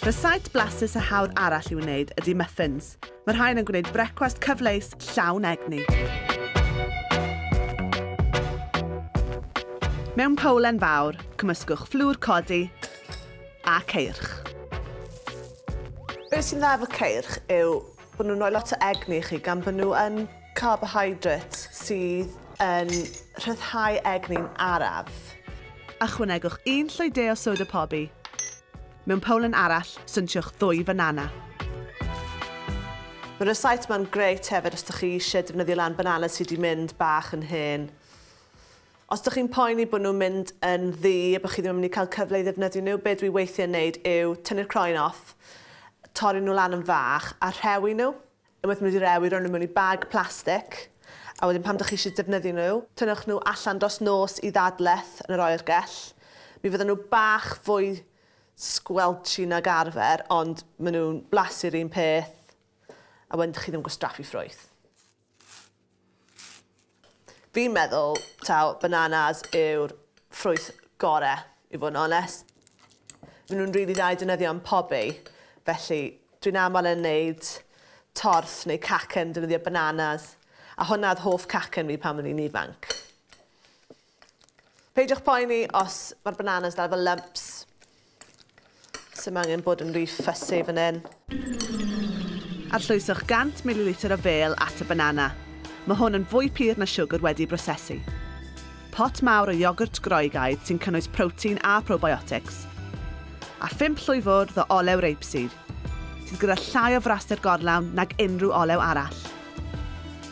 Rysait blasus a hawdd arall i wneud ydy muffins. Mae rhain yn gwneud brecwast cyfleus llawn egni. Mewn powlen fawr, cymysgwch fflwr codi a ceirch. Be sy'n dda efo ceirch yw bod nhw'n rhoi lot o egni i chi gan bod nhw yn Carbohydrate sydd yn rhyddhau egni'n araf. Ychwanegwch un llwy de o soda pobi. Mewn powlen arall, swnshiwch ddwy fanana. Mae'r rysáit ma'n grêt hefyd os dych chi eisiau defnyddio lan banana sy wedi mynd bach yn hen. Os dych chi'n poeni bod nhw'n mynd yn ddu a bod chi ddim yn mynd i cael cyfle i ddefnyddio nhw, be dwi weithiau yn neud yw tynnu'r croen off, torri nhw lan yn fach a rhewi nhw. Unwaith maen nhw 'di rewi, rhoi nhw mewn i bag plastig, a wedyn pan dych chi eisiau defnyddio nhw, tynnwch nhw allan dros nos i ddadleth yn yr oergell. Mi fyddan nhw bach fwy squelchy nag arfer, ond maen nhw'n blasu'r un peth, a wedyn dych chi ddim yn gwastraffu ffrwyth. Fi'n meddwl taw bananas yw'r ffrwyth gore, i fod yn onest. Maen nhw'n rili dda i defnyddio yn pobi, felly dwi'n aml yn neud torth neu cacen yn defnyddio bananas, a hwnna oedd hoff cacen fi pan o'n i'n ifanc. Peidiwch poeni os mae'r bananas dal efo lumps. Sim angen bod yn ry fussy fan hyn. Arllwyswch 100 mililitr o fêl at y banana. Mae hwn yn fwy pur na siwgr wedi'i brosesu. Pot mawr o iogwrt Groegaidd sy'n cynnwys protein a probiotics. A phump llwy fwrdd o olew rapeseed. sydd gyda llai o fraster gorlawn nag unrhyw olew arall.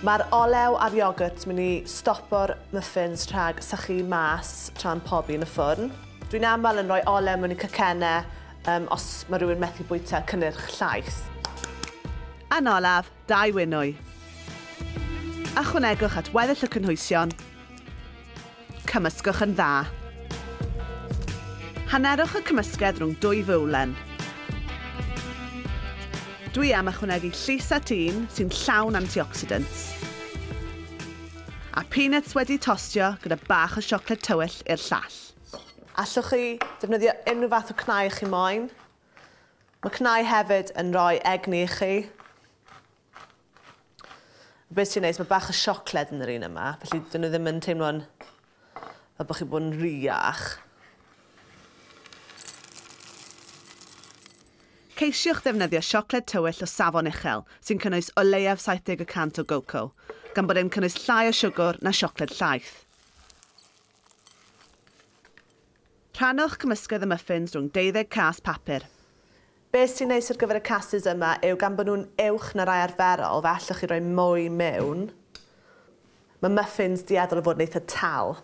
Mae'r olew a'r iogwrt mynd i stopo'r muffins rhag sychu mas tra'n pobi yn y ffwrn. Dwi'n aml yn rhoi olew mewn i cacennau um, os mae rhywun methu bwyta cynnyrch llaeth. Yn olaf, dau winwy. Ychwanegwch at weddill y cynhwysion Cymysgwch yn dda. Hannerwch y cymysgedd rhwng dwy fywlen. Dwi am ychwanegu llys at un sy'n llawn antioxidants. A peanuts wedi tostio gyda bach o siocled tywyll i'r llall. Allwch chi ddefnyddio unrhyw fath o cnau chi moyn. Mae cnau hefyd yn rhoi egni i chi. Be sy'n neis, mae bach o siocled yn yr un yma, felly dyn nhw ddim yn teimlo'n fel bod chi'n bod yn riach. Ceisiwch ddefnyddio siocled tywyll o safon uchel, sy'n cynnwys o leiaf 70 y cant o goco, gan bod e'n cynnwys llai o siwgr na siocled llaeth. Rhannwch cymysgedd y muffins rhwng deuddeg cas papur. Beth sy'n neis ar gyfer y cases yma yw gan bod nhw'n uwch na rai arferol fe allwch chi roi mwy mewn. Mae muffins dueddol o fod yn eitha' tal.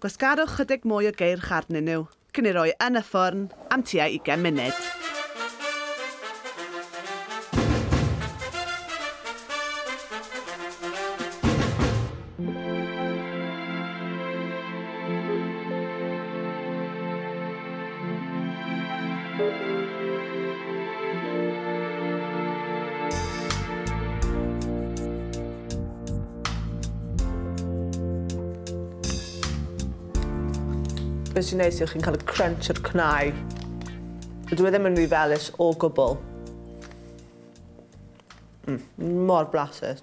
Gwasgarwch chydig mwy o geirch arnyn nhw cyn eu rhoi yn y ffwrn am tua ugain munud. Be sy'n neis yw chi'n cael y crunch o'r cnau. Dwi e ddim yn rhy felus o gwbl. Mm, mor blasus.